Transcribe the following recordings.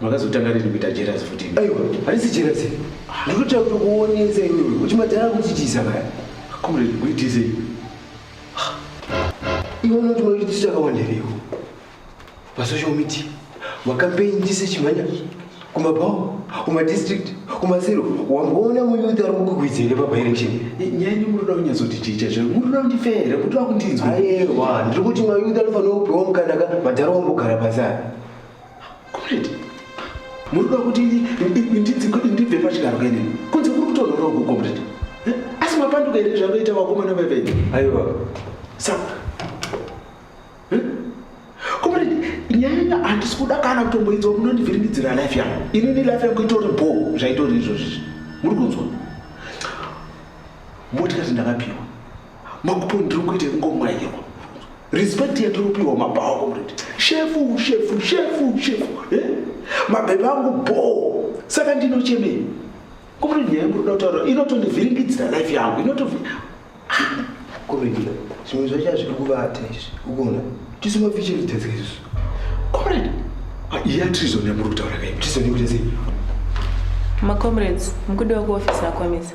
makazotanga rini kuita jerasi futi aiwa harisi jerasi ndinotoda kutokuonesa iwewe kuti madhara kutichisa kaya comrade kuitisei iwe unoti maitisi akawanderewo pasocial media makampeini ndise chimhanya kumabhawa kumadistrict kumasero wamboona muyouth ari kukukwidza here pabirection nyaya ini munoda kunyazoti chii chacho munoda kundifa here kuti vakundinzwa ayewa ndiri kuti mayouth anofanira kupiwa mukanaka madhara wambogara pasana Comrade, muri kuda kuti ndibve pachigaro kenini? Kunze kuri kutonhora uku comrade. Eh, asi mapanduka here zvanoita vakomana vevenyu? Aiwa. Saka. Eh? Comrade, nyaya handisi kuda kana kutomboidzwa munondivhiringidzira life yangu. Inini life yangu itori bho zvaitori izvozvi. Muri kunzwa? Motikati ndakapiwa. makupo ndiri kuita kungomwaiwa respect yatinopiwa mabhawa komredi shefu shefu shefu shefu eh? mabhebha angu bhoo saka ndinochemei komredi nyaya yangu roda kutaura inotondivhiringidzira life yangu inotovi ah! komredi zvimwe zvacho hazviri kuvata izvi ukuona tisu mafiche vitedzeka izvozvo komredi ah, iya trizon yamuri kutaura kai trizon yekuita sei macomrades mukudiwa kuofisi akwamisa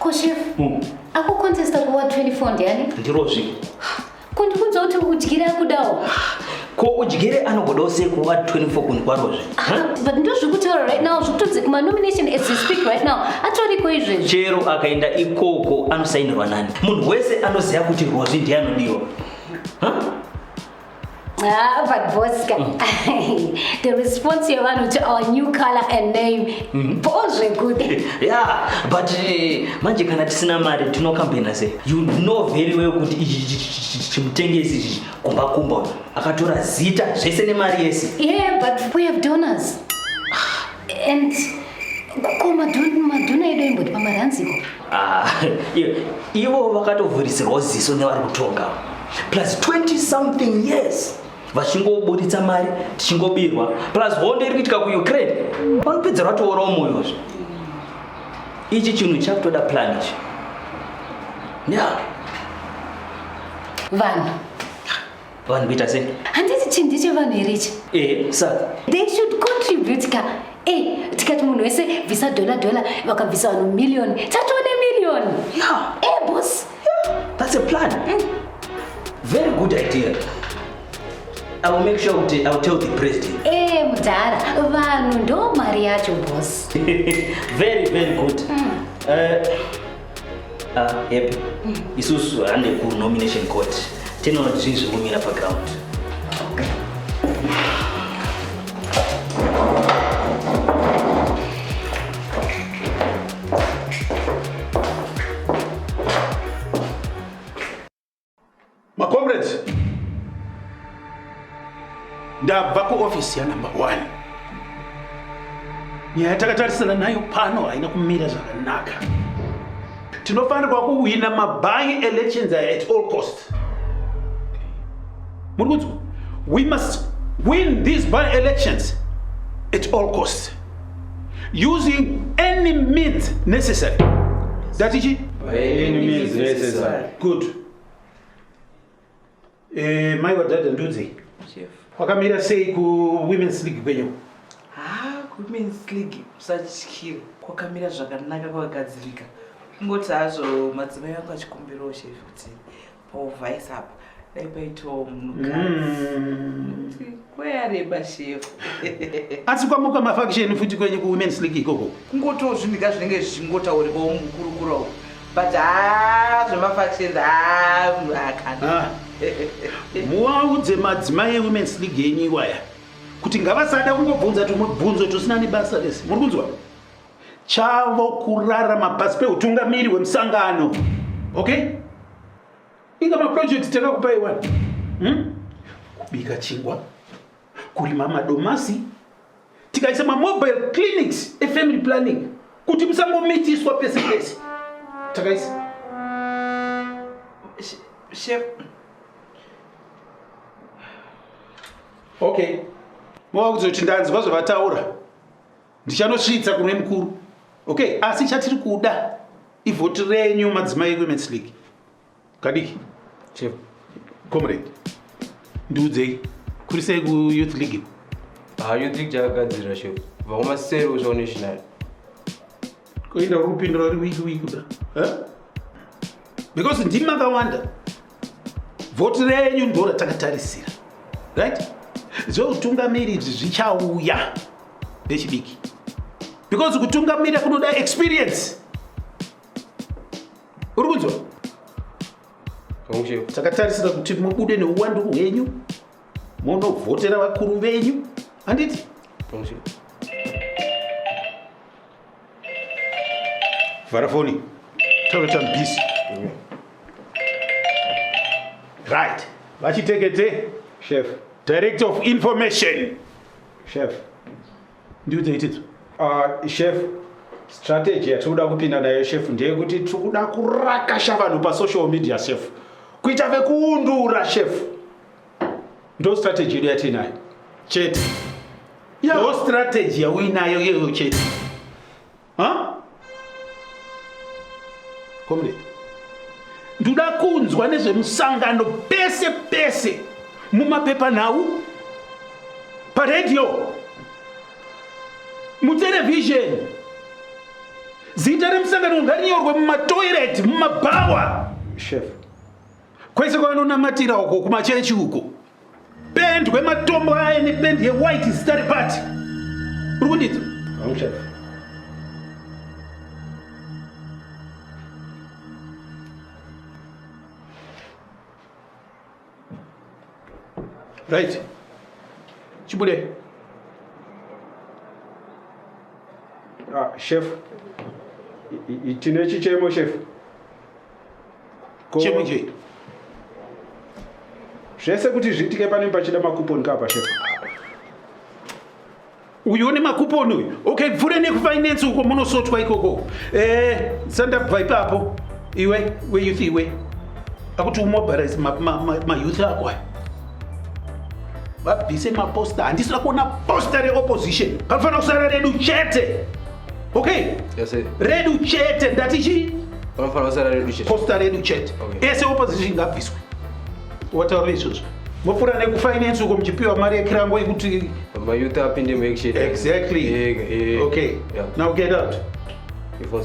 Ko chef, mm. akukontesta kuva 24 ndiani? Ndirozvi. Kundiudza kuti udyire akudawo. Ko udyire anogodawo sei kuva 24 kunhu kwarozve? But ndozvikutaura right now zvikutonzi kuma nomination as we speak right now atoriko izvezvi. Chero akaenda ikoko anosainirwa nani? Munhu wese anoziva kuti Rozi ndiye anodiwa. Huh? Ah, but Bosca, mm. the response you want to our new color and name Mhm. bho zvekuti yeah but eh, manje kana tisina mari tinokambaina sei you know very well kuti ichi chi- chi- chi- chi- chimutengesi ichi kumba kumba uyu akatora zita zvese nemari yese yeah but we have donors and ko madhon- madhona edu aimboti pamari hanziko Ah, i- ivo vakatovhurisirwa ziso nevari kutonga plus 20 something years vachingoburitsa mari tichingobirwa plus hondo iri kuitika kuukraine vanopedza ratoora umoyozvo ichi chinhu chakutoda plan ichi ya vanhu vanhu kuita sei handiti chinhu ndechevanhu here ichi e saka they should contribute ka e tikati munhu wese bvisa dola dola vakabvisa vanhu millioni tatoone millioni ya e bos Yeah, that's a plan. Mm. Very good idea. I will make sure I will tell the president. Eh, mudhara, vanhu ndo mari yacho boss. very very good. Mm. Uh, uh, yep. Mm. Isusu hande ku nomination court. Tinoona zvinhu zviri kumira pa ground. Okay. Macomrades, ndabva kuofisi yanumber one. Nyaya yatakatarisana nayo pano haina kumira zvakanaka. Tinofanirwa kuhwina mabuy elections at all costs. Muri kunzwa? We must win these by elections at all costs. using any means necessary ndati chi By any means necessary. good eh, mai wadhadha ndudzi Chef. wakamira sei kuwomen's league kwenyu Ah, women's league musatyire kwakamira zvakanaka kwakagadzirika kungoti hazvo madzimai vangu achikumbirawo chef kuti Paul Vice apa dai paitawo munhukadzi mm. kweyareba shefu asi kwamuka mafakisheni futi kwenyu kuwomens league ikoko kungotiwo zvinhika zvinenge zvichingotaurikawo mukurukura uku but haa zvemafakisheni haa munhu akana muwaudze madzimai ewomens league yenyu iwaya kuti ngavasada kungobvunza tumwe bvunzo tusina nebasa rese muri kunzwa chavo kurarama pasi peutungamiri hwemusangano okay inga maprojects takakupai wani hmm? kubika chingwa kurima madomasi tikaisa mamobile clinics efamily planning kuti musangomitiswa pese pese takaisa chef okay mova kuzoti ndanzwa zvavataura Ndichanosvitsa kune mukuru. Okay, asi chatiri kuda ivhoti renyu madzimai eWomen's League. Kadiki. Chef. Comrade. Ndiudzei. Kuri sei ku Youth League? Ah, Youth League chakagadzirira chef. Kubva kumaseri kusvika kunational. Koinda uri kupindura uri wiki wiki bra. Huh? Because ndimi makawanda. Voti renyu ndo ratakatarisira right? Zveutungamiri izvi zvichauya ndechidiki because kutungamira kunoda experience. Uri kunzwa? Takatarisira kuti mubude neuwandu hwenyu munovhotera vakuru venyu handiti? vhara foni taura tambisi right vachitekete chef director of information chef ndiudze itidzo uh, chef strategy yatiri kuda kupinda nayo chef ndeyekuti tiri kuda kurakasha vanhu pasocial media chef kuita vekuundura chef ndo strategy yedu yatiinayo chete ndo strategy yauinayo iyoyo chete comrade ndoda kunzwa nezvemusangano pese pese mumapepanhau paredhiyo muterevhizheni zita remusangano ngarinyorwe mumatoireti mumabhawa shefu Kwese kwavanonamatira uko kumachechi uko pendwe matombo aye nependi yewhite zita repati uri kundidza right chibude ah, chef tine chichemo chef chemunje zvese kuti zviitike pane pachida makuponi kaa pashefa uyu une makuponi uyu okay bvure nekufinance uko munosotwa ikoko eh, sandabva ipapo iwe weyouth iwe akuti umobilize mayouth ma, ma, ma ako aya vabvise maposta handisira kuona posta reopposition panofanira kusara redu chete okay yes, redu chete ndati chii posta redu chete ese opposition ngabviswe wataura izvozvo mopfuura nekufinance uko muchipiwa mari yekirango yekuti mayouth apinde muaction exactly yeah, yeah. okay yeah. now get out Before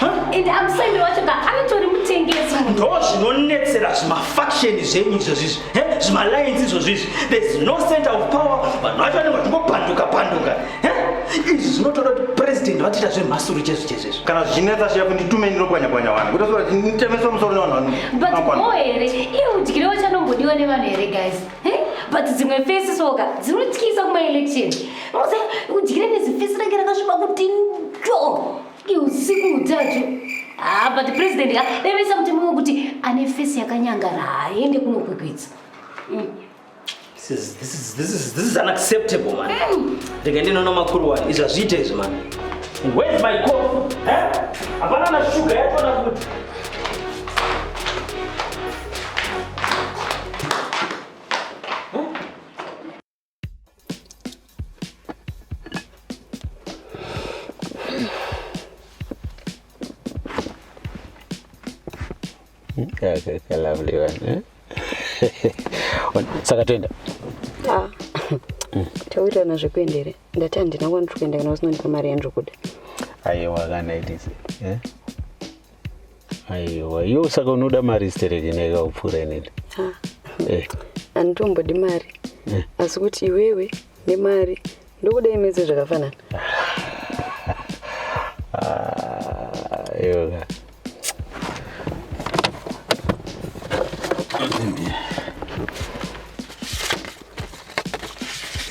and amusemi wacho ka anotori mutengesi ndo zvinonetsera zvimafaksheni zvenyu izvozvizvi zvimalines izvozvizvi there's no center of power vanhu vacho vanenge vachingopanduka panduka izvi zvinotoda kuti president vatiita zvemhasuru chezvo chezvezvo kana zvichinetsa shefu nditumei ndinopwanyapwanya vanhu kuti zora nditemeso musoro nevanhu vanobo here iye udyire wachanombodiwa nevanhu here guys but dzimwe fesi soka dzinotyisa kumaelection udyire nezifesi range rakasviba kuti ndo usiku utatu ah, but president akadevesa mutemo wekuti ane fesi yakanyangara haaende kunokwikwidza mm. This is, this is, this is, this is unacceptable man mm. ndege ndinoona makuru wani izvi hazviite izvi man where's my cof eh? hapana na shuga yacho na kuti Eh? saka toenda ah. mm. taurirana zvekuenda here ndati handina kwandiri kuenda kana usinondipa mari yandiri kuda aiwa kana itise eh? aiwa iwo saka unoda mari stereki neka upfuura inini eh. handitombodi mari eh. asi kuti iwewe nemari ndokuda imedze zvakafanana yoga ah,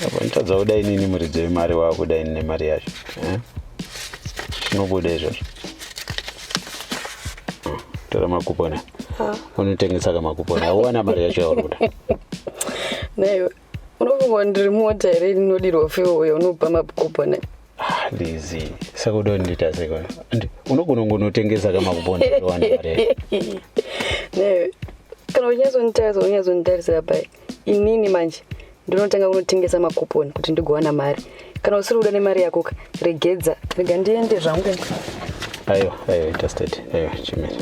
apa nditadza kudai nini muridzo wemari waakudai nine mari yacho eh? zvinobuda izvozvo hmm, tora makupona unotengesa ka makupona auwana mari yacho yauri kuda naiwe unofunga ndiri mota here ndinodirwa fe uyo unopa makupona lizi ah, saka uda kundiita seko and unogona kungonotengesa ka makupona awana mari yacho kana unyazonditarisa unyazonditarisa pai inini manje ndinotanga kunotengesa makuponi kuti ndigowana mari kana usiri kuda nemari yako ka regedza rega ndiende zvangu aiwa aiwa interstate aiwa chimene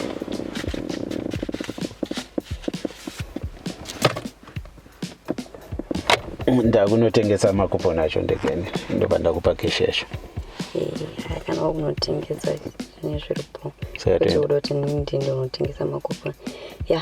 ndakunotengesa makuponi acho ndegeni ndobva ndakupa keshi yacho eh, kana wakunotengesa nezviripo saka toenda kuti ndinotengesa makuponi ya